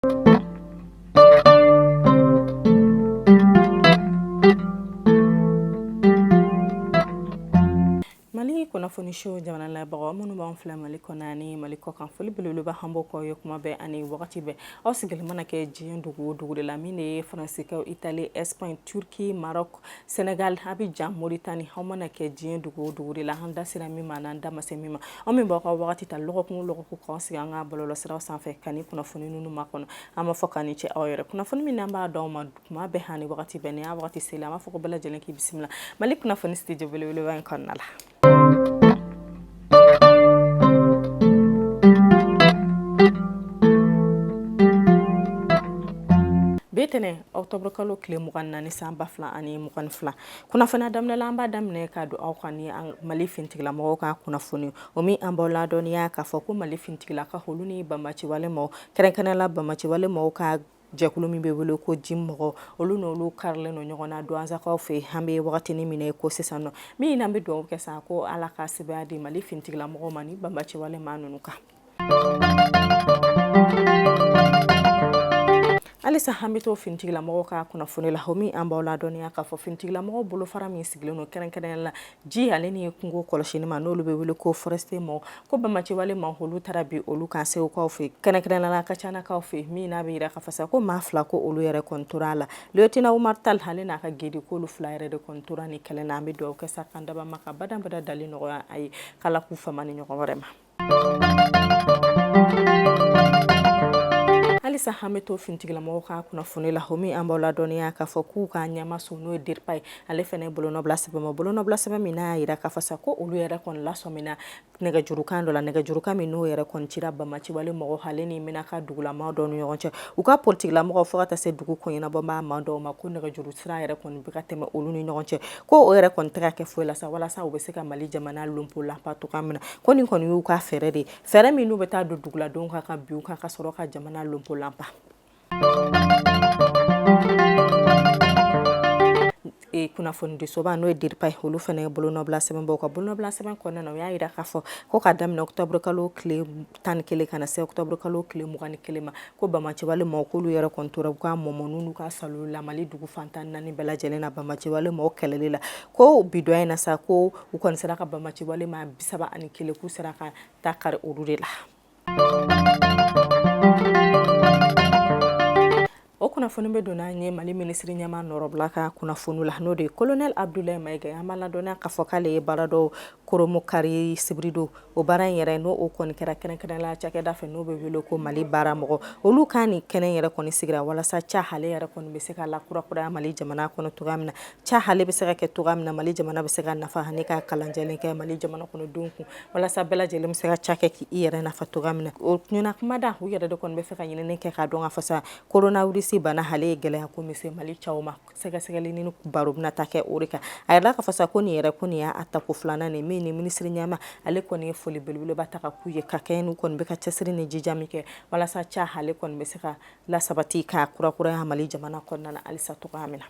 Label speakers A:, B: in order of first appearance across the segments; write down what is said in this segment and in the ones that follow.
A: Mali kunnafoni so jamana lajɛbagaw minnu b'an filɛ mali kɔnɔ ani mali kɔ kan foli belebeleba an b'o k'aw ye kuma bɛɛ ani wagati bɛɛ aw sigilen mana kɛ diɲɛ dugu o dugu de la min de ye Faransikaw Itali Espagne Turquie Maroc Senegal Abijan Moritani aw mana kɛ diɲɛ dugu o dugu de la an da sera min ma n'an da ma se min ma aw min b'aw ka waati ta lɔgɔkun lɔgɔkun k'aw sigi an ka bɔlɔlɔsiraw sanfɛ ka nin kunnafoni ninnu makɔnɔ an b'a fɔ k'aw ni ce aw yɛrɛ kunnafoni min n'an b'a d'aw ma kuma bɛɛ ani waati bɛɛ n'a waati sera an b'a fɔ ko bɛɛ lajɛlen k'i bisimila mali kunnafoni studio belebele in kɔnɔna la bi ntɛnɛn octobre kalo tile mugan ni naani san ba fila ani mugan ni fila kunnafoni daminɛ la an b'a daminɛ ka don aw kan ni mali finitigilamɔgɔw ka kunnafoni o min an b'aw ladɔnniya k'a fɔ ko mali finitigilakaw olu ni banbaanciwale mɔgɔw kɛrɛnkɛrɛn la banbaanciwale mɔgɔw ka Jɛkulu min bɛ wele ko JNIM mɔgɔw olu n'olu karilen don ɲɔgɔn na Duwanzakaw fɛ an bɛ wagatinin min na i ko sisan nɔ min n'an bɛ dugawu kɛ sa ko ala ka sebaaya di mali finitigila mɔgɔw ma nin banbaanciwale maa ninnu kan halisa an bɛ to finitigila mɔgɔw ka kunnafoni la o min an b'aw ladɔnniya k'a fɔ finitigila mɔgɔw bolofara min sigilen don kɛrɛnkɛrɛn la ji ale ni kungo kɔlɔsini ma n'olu bɛ wele ko forestier mɔgɔw ko banbaanciwale maa olu taara bin olu kan segukaw fɛ kɛrɛnkɛrɛn la Kacɛnakaw fɛ min n'a bɛ yira k'a fɔ sa ko maa fila ko olu yɛrɛ kɔni tora a la lieutenant Umar Tal ale n'a ka gedi k'olu fila yɛrɛ de kɔni tora nin kɛlɛ na an bɛ dugawu kɛ sa k'an dabaa ma ka badabada dali nɔgɔya a ye k'ala k'u fama nin ɲɔgɔn wɛrɛ ma halisa an bɛ to finitigilamɔgɔw ka kunnafoni la o min an b'aw ladɔnniya k'a fɔ k'u ka ɲɛmaaso n'o ye DIRPA ye ale fana ye bolonɔbila sɛbɛn ma bolonɔbila sɛbɛn min n'a y'a yira k'a fɔ sa ko olu yɛrɛ kɔni lasɔmina nɛgɛjurukan dɔ la nɛgɛjurukan min n'o yɛrɛ kɔni cira banbaanciwale mɔgɔw ale ni Menaka dugulamaa dɔw ni ɲɔgɔn cɛ u ka politigilamɔgɔw fo ka taa se dugu koɲɛnabɔbaa maa dɔw ma ko nɛgɛjuru sira yɛrɛ kɔni bɛ ka tɛmɛ olu ni ɲɔgɔn cɛ ko o yɛrɛ kɔni tɛ ka kɛ foyi la sa walasa u bɛ se ka mali jamana lonpo lanpa cogoya min na ko nin kɔni y'u ka fɛɛrɛ de fɛɛrɛ min n'u bɛ taa don duguladenw kan ka bin u kan ka sɔrɔ ka jamana lonpo lanpa kunnafonidisoba n'o ye DIRPA ye olu fana ye bolonɔbila sɛbɛn bɔ u ka bolonɔbila sɛbɛn kɔnɔna na u y'a yira k'a fɔ ko k'a daminɛ octobre kalo tile tan ni kelen ka na se octobre kalo tile mugan ni kelen ma ko banbaanciwale maaw k'olu yɛrɛ kɔni tora u ka mɔmɔniw n'u ka salow la mali dugu fan tan ni naani bɛɛ lajɛlen na banbaanciwale maaw kɛlɛli la ko bi don in na sa ko u kɔni sera ka banbaanciwale maa bisaba ani kelen k'u sera ka ta kari olu de la o kunnafoni bɛ don n'an ye mali minisiri ɲɛma nɔrɔbila ka kunnafoni la n'o de ye kolonɛli abudulayi mayiga an b'a ladɔnniya k'a fɔ k'ale ye baara dɔw koronbonkari sibiridon o baara in yɛrɛ n'o o kɔni kɛra kɛrɛnkɛrɛnla cakɛda fɛ n'o bɛ wele ko mali baara mɔgɔ olu ka ni kɛnɛ yɛrɛ kɔni sigira walasa ca hale yɛrɛ kɔni bɛ se ka lakurakuraya mali jamana kɔnɔ cogoya min na ca hale bɛ se ka kɛ cogoya min na mali jamana bɛ se ka nafa ani ka kalan jɛlen kɛ mali jamana kɔnɔdenw kun walasa bɛɛ lajɛlen bɛ se ka ca kɛ k' i yɛrɛ nafa cogoya min na o ɲɛna kuma da u yɛrɛ de kɔni b'a fɛ ka ɲinini kɛ k'a dɔn k'a fɔ sa koronawirisi bana hale ye gɛlɛya ko min se mali caw ma sɛgɛsɛgɛli ni baro bɛna ta kɛ o de kan a yɛrɛ k'a fɔ sa ko nin yɛrɛ kɔni y'a tako filanan nin min ni minisiri ɲɛma ale kɔni ye foli belebeleba ta ka k'u ye ka kɛ n'u kɔni bɛ ka cɛsiri ni jija min kɛ walasa ca hale kɔni bɛ se ka lasabati ka kurakuraya mali jamana kɔnɔna halisa cogoya min na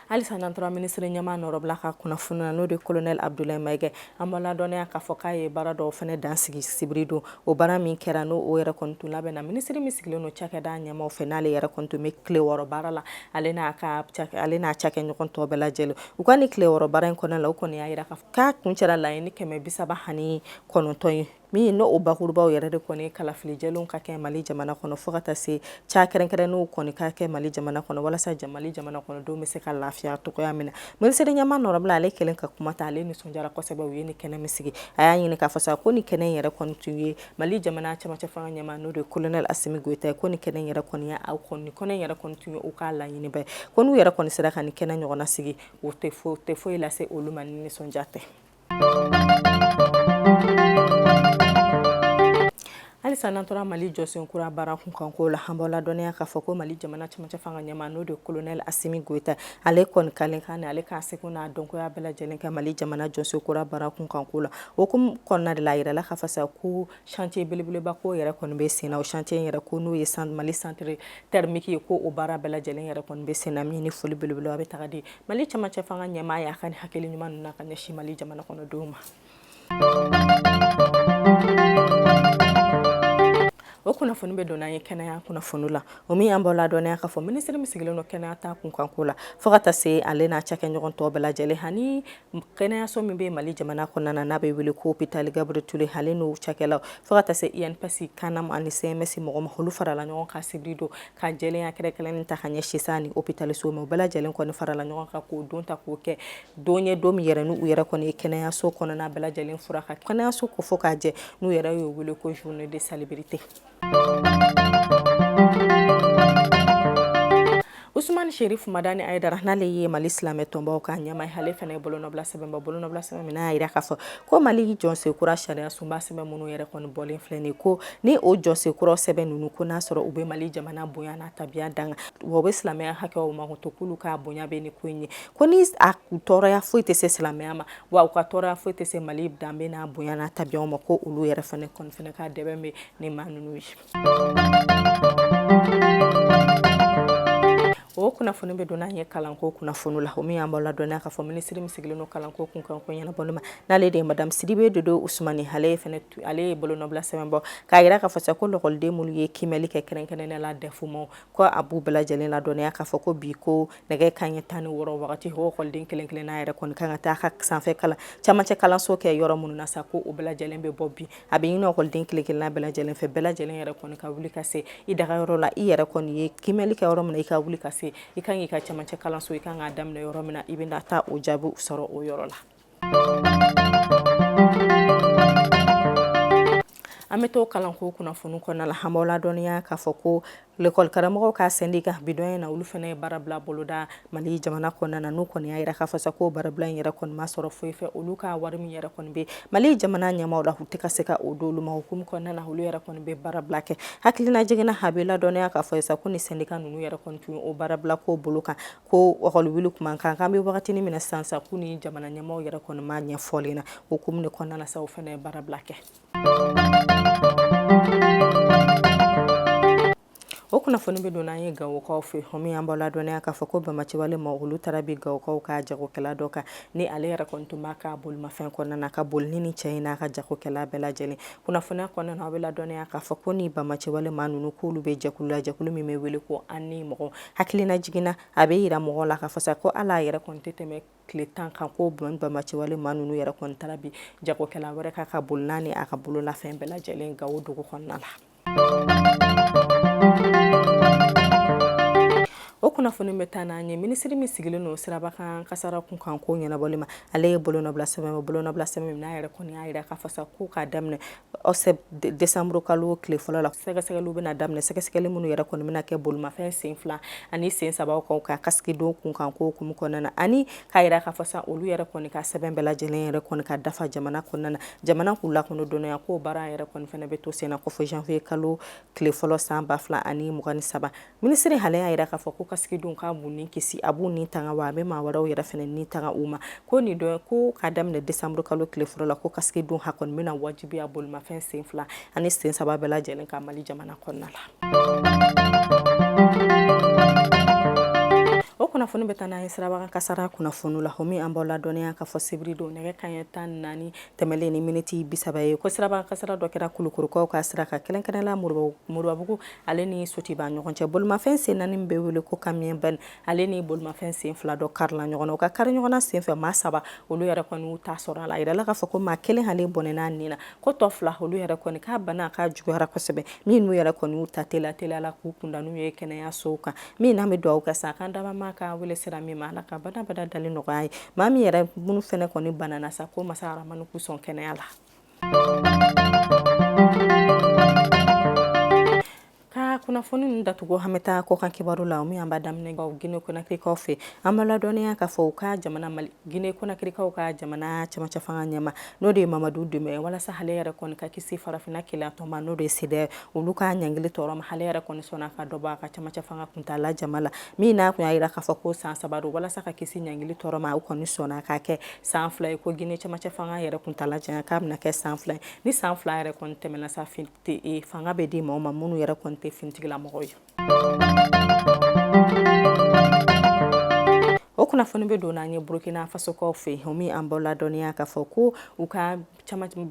A: halisa n'an tora minisiri ɲɛma nɔrɔbila ka kunnafoni na n'o de kolonɛli abudulayi mayiga an b'a ladɔnniya k'a fɔ k'a ye baara dɔw fɛnɛ dansigi sibiri don o baara min kɛra n'o o yɛrɛ kɔni tun labɛnna minisiri min sigilen don cakɛda ɲɛmaw fɛ n'ale yɛrɛ kɔni tun bɛ tile wɔɔrɔ baara la ale n'a cakɛɲɔgɔn tɔw bɛɛ lajɛlen u ka ni tile wɔɔrɔ baara in kɔnɔna la o kɔni y'a yira k'a kuncɛra laɲini kɛmɛ bisaba ani kɔnɔntɔn ye min n'o o bakurubaw yɛrɛ de kɔni kalafili jɛlenw ka kɛ mali jamana kɔnɔ fo ka taa se ca kɛrɛnkɛrɛnnenw kɔni ka kɛ mali jamana kɔnɔ walasa mali jamana kɔnɔdenw bɛ se ka lafiya cogoya min na minisiri ɲɛma nɔrɔbila ale kɛlen ka kuma ta ale nisɔndiyara kosɛbɛ u ye ni kɛnɛ min sigi a y'a ɲini k'a fɔ sa ko ni kɛnɛ yɛrɛ kɔni tun ye mali jamana camancɛ fanga ɲɛma n'o de kolonɛli asimi goyita ye ko ni kɛnɛ yɛrɛ kɔni ye a ko ni kɛnɛ yɛrɛ kɔni tun ye u ka laɲini bɛɛ ko n'u yɛrɛ kɔni sera ka ni kɛnɛ ɲɔgɔnna sigi o tɛ foyi lase olu ma ni nisɔndiya tɛ halisa n'an tora mali jɔsen kura baara kunkanko la an b'aw ladɔnniya k'a fɔ ko mali jamana camancɛ fanga ɲɛma n'o de kolonɛli asimi goyita ale kɔni kalen kan ale k'a seko n'a dɔnkoya bɛɛ lajɛlen kɛ mali jamana jɔsen kura baara kunkanko la o kɔnɔna de la a yirala k'a fɔ sa ko Chantier belebeleba ko yɛrɛ kɔni bɛ sen na o chantier in yɛrɛ ko n'o ye mali centre thermique ye ko o baara bɛɛ lajɛlen yɛrɛ kɔni bɛ sen na min ni foli belebeleba bɛ ta ka di mali camancɛ fanga ɲɛmaa y'a ka ni hakili ɲuman ninnu na ka ɲɛsin mali jamana kɔnɔdenw ma o kunnafoni bɛ don n'an ye kɛnɛya kunnafoni la o min an b'aw ladɔnniya k'a fɔ minisiri min sigilen don kɛnɛya ta kunkanko la fo ka taa se ale n'a cakɛɲɔgɔn tɔw bɛɛ lajɛlen ani kɛnɛyaso min bɛ mali jamana kɔnɔna na n'a bɛ wele ko opitali gabriyɛli ture hale n'o cakɛlaw fo ka taa se INPS CANAM ani CMSS mɔgɔ ma olu farala ɲɔgɔn kan sibiri don ka jɛlenya kɛrɛnkɛrɛnnen ta ka ɲɛsin sa ni opitaliso ma bɛɛ lajɛlen kɔni farala ɲɔgɔn kan k'o don ta k'o kɛ don ye don min yɛrɛ n' u yɛrɛ kɔni ye kɛnɛyaso kɔnɔna bɛɛ lajɛlen furan ka kɛnɛyaso ko fo k'a jɛ n'u yɛrɛ y'o wele ko journée de salubrité Usumani Serifu Madani Ayidara n'ale ye Mali silamɛ tɔnbaw ka ɲɛmaa ye ale fana ye bolonɔbila sɛbɛn bɔ bolonɔbila sɛbɛn min n'a y'a jira k'a fɔ ko Mali jɔsen kura sariya sunba sɛbɛn minnu yɛrɛ kɔni bɔlen filɛ nin ye ko ni o jɔsen kura sɛbɛn ninnu ko n'a sɔrɔ u bɛ Mali jamana bonya n'a tabiya tanga wa u bɛ silamɛya hakɛw mato k'olu ka bonya bɛ ni ko in ye ko ni a tɔɔrɔya foyi tɛ se silamɛya ma wa u ka tɔɔrɔya foyi tɛ se mali danbe n'a bonya n'a tabiya ma ko olu yɛrɛ fana kɔni fana ka dɛmɛ bɛ ni maa ninnu ye o kunnafoni bɛ don n'an ye kalanko kunnafoni la o min an b'aw ladɔnya k'a fɔ minisiri min sigilen don kalanko kunkanko ɲɛnabɔli ma n'ale de ye madame sidibe dedewu usumani ale ale ye bolonɔbila sɛbɛn bɔ k'a jira k'a fɔ sa ko lɔkɔliden minnu ye kimɛli kɛ kɛrɛnkɛrɛnnenya la dɛfu ma ko a b'u bɛɛ lajɛlen ladɔnya k'a fɔ ko bi ko nɛgɛ kanɲɛ tan ni wɔɔrɔ wagati o lɔkɔliden kelen kelen n'a yɛrɛ kɔni kan ka taa ka sanfɛ kalan camancɛ kalanso kɛ yɔrɔ minnu na sa ko o bɛɛ lajɛlen bɛ bɔ bi a bɛ ɲini lɔkɔliden kelen kelen n'a bɛɛ lajɛlen fɛ bɛɛ lajɛlen yɛrɛ kɔni ka wuli ka se i dagayɔrɔ la i yɛrɛ kɔni ye kimɛli kɛ yɔrɔ min na i ka wuli ka se i kan k'i ka camancɛ kalanso i kan k'a daminɛ yɔrɔ min na i bɛna taa o jaabiw sɔrɔ o yɔrɔ la an bɛ to kalanko kunnafoni kɔnɔna la an b'aw ladɔniya k'a fɔ ko lekɔlikaramɔgɔw ka sɛndika bidon in na olu fana ye baarabila boloda mali jamana kɔnɔna na n'u kɔni y'a jira k'a fɔ sa ko baarabila in yɛrɛ kɔni ma sɔrɔ foyi fɛ olu ka wari min yɛrɛ kɔni bɛ mali jamana ɲɛmaaw la u tɛ ka se ka o d'olu ma hukumu kɔnɔna na olu yɛrɛ kɔni bɛ baarabila kɛ hakilinajigin na aw bɛ ladɔnya k'a fɔ sa ko ni sɛndika ninnu yɛrɛ kɔni tun o baarabila ko bolo kan ko lɔkɔli wuli tuma kan an bɛ wagati min na sisan k'u ni jamana ɲɛmɔgɔ yɛrɛ kɔni ma ɲɛ fɔlen na o hukumu de kɔnɔna sa o fana ye baara bila kɛ o kunnafoni bɛ don n'an ye gawokaw fɛ o min an b'aw ladɔnya k'a fɔ ko banbaanciwale maa olu taara bin gawokaw ka jagokɛla dɔ kan ni ale yɛrɛ kɔni tun b'a ka bolimafɛn kɔnɔna na ka boli ni cɛ in n'a ka jagokɛla bɛɛ lajɛlen kunnafoniya kɔnɔna aw bɛ ladɔnya k'a fɔ ko ni banbaanciwale maa ninnu k'olu bɛ jɛkulu la jɛkulu min bɛ wele ko an ni mɔgɔ hakilinajigin na a bɛ jira mɔgɔw la k'a fɔ sa ko hali a yɛrɛ kɔni tɛ tɛmɛ tile tan kan ko banbaanciwale maa ninnu yɛrɛ kɔni taara bin jagokɛla wɛrɛ kan ka boli n'a ni a ka bololafɛn bɛɛ lajɛlen gawo dugu kɔnɔna la o kunnafoni bɛ taa n'an ye minisiri min sigilen don siraba kan kasara kunkanko ɲɛnabɔli ma ale ye bolonɔbila sɛbɛn bolonɔbila sɛbɛn min n'a yɛrɛ kɔni y'a jira k'a fɔ sa ko k'a daminɛ desanburu kalo tile fɔlɔ la sɛgɛsɛgɛliw bɛna daminɛ sɛgɛsɛgɛli minnu yɛrɛ kɔni bɛna kɛ bolimafɛn sen fila ani sen sabaw kan ka kasiki don kunkanko hukumu kɔnɔna na ani k'a yira k'a fɔ sa olu yɛrɛ kɔni ka sɛbɛn bɛɛ lajɛlen yɛrɛ kɔni ka dafa jamana kɔnɔna na jamana k'u lakɔnɔ dɔnniya k'o baara yɛrɛ kɔni fana bɛ to senna ko fo janvier kalo tile fɔlɔ san ba fila ani mugan ni saba Minisiri Hale y'a yira k'a fɔ ko kasiki don k'a b'u ni kisi, a b'u ni tanga wa a bɛ maa wɛrɛw yɛrɛ fana ni tanga u ma. Ko nin don ko k'a daminɛ décembre kalo tile fɔlɔ la ko kasiki don a kɔni bɛna wajibiya bolimafɛn sen fila ani sen saba bɛɛ lajɛlen kan Mali jamana kɔnɔna la. O kunnafoni bɛ taa n'an ye sirabakan kasara kunnafoniw la, o min an b'aw ladɔnniya k'a fɔ sibiri don nɛgɛ kanɲɛ tan ni naani tɛmɛlen ni miniti bi saba ye, ko sirabakan kasara dɔ kɛra Kulukorokaw ka sira kan, kɛrɛnkɛrɛnnenya la Moribabugu ale ni sotuba ɲɔgɔn cɛ bolimafɛn sen naani min bɛ wele ko kamiyɔn bɛn ale ni bolimafɛn sen fila dɔ karila ɲɔgɔn na u ka kari ɲɔgɔnna senfɛ maa saba olu yɛrɛ kɔni y'u ta sɔrɔ a la yirala k'a fɔ ko maa kelen ale bɔnɛn'a nin na ko tɔ fila olu yɛrɛ kɔni ka bana k'a juguyara kosɛbɛ min n'u yɛrɛ kɔni y'u ta teliya la k'u kunda n'u ye kɛnɛyasow kan min n'an bɛ dugawu kɛ sa k'an dabaa ka wele sera min ma ala ka badabada dalen nɔgɔya ye maa min yɛrɛ minnu fana kɔni banana sa ko masa aramani k'u sɔn kɛnɛya la kunnafoni ninnu datugu an bɛ taa kɔkan kibaru la min an b'a daminɛ gine konakirikaw fɛ an b'aw ladɔnniya k'a fɔ u ka jamana mali gine konakirikaw ka jamana camancɛ fanga ɲɛmaa n'o de ye mamadu dumbuya walasa ale yɛrɛ kɔni ka kisi farafinna kelenyatɔn ma n'o de ye sedeyao olu ka ɲangili tɔɔrɔ ma ale yɛrɛ kɔni sɔnna ka dɔ bɔ a ka camancɛ fanga kuntaala janya la min n'a kun y'a yira k'a fɔ ko san saba don walasa ka kisi ɲangili tɔɔrɔ ma u kɔni sɔnna k'a kɛ san fila ye ko gine camancɛ fanga yɛrɛ kuntaala janya k'a bɛna kɛ san fila ye ni san fila yɛrɛ kɔni tɛmɛna sa e, fanga bɛ di maaw ma minnu yɛrɛ kɔni tɛ finitigilamɔgɔw ye o kunnafoni bɛ don n'an ye burukina fasokaw fɛ o min an b'aw ladɔnniya k'a fɔ ko u ka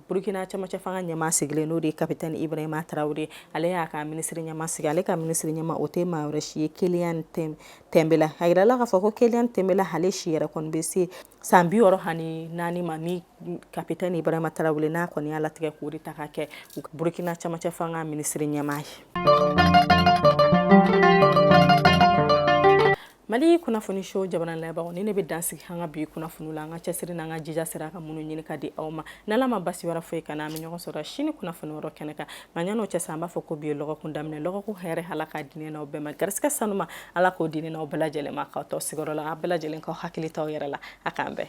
A: burukina camancɛ fanga ɲɛmaa sigilen n'o de ye kapitɛn ibrahima tarawele ale y'a ka minisiri ɲɛmaa sigi ale ka minisiri ɲɛmaa o tɛ maa wɛrɛ si ye kiyelɛm tanbela a yirala k'a fɔ ko kiyelɛm tanbela ale si yɛrɛ kɔni bɛ se san bi wɔɔrɔ ani naani ma ni kapitɛn ibrahima tarawele n'a kɔni y'a latigɛ k'o de ta ka kɛ burukina camancɛ fanga minisiri ɲɛmaa ye mali kunnafoni so jabaranin lajɛbagaw nin de bɛ dansigi an ka bi kunnafoni la an ka cɛsiri n'an ka jija sera ka minnu ɲini ka di aw ma n'ala ma basi wɛrɛ foyi k'an na an bɛ ɲɔgɔn sɔrɔ sini kunnafoni wɛrɛ kɛnɛ kan nka ɲan'o cɛ sa an b'a fɔ ko bi ye lɔgɔkun daminɛ lɔgɔkun hɛrɛ ala ka di ne n'aw bɛɛ ma garisigɛ sanuma ala k'o di ne n'aw bɛɛ lajɛlen ma k'aw to sigiyɔrɔ la aw bɛɛ lajɛlen k'aw hakili t'aw yɛrɛ la a k'an bɛn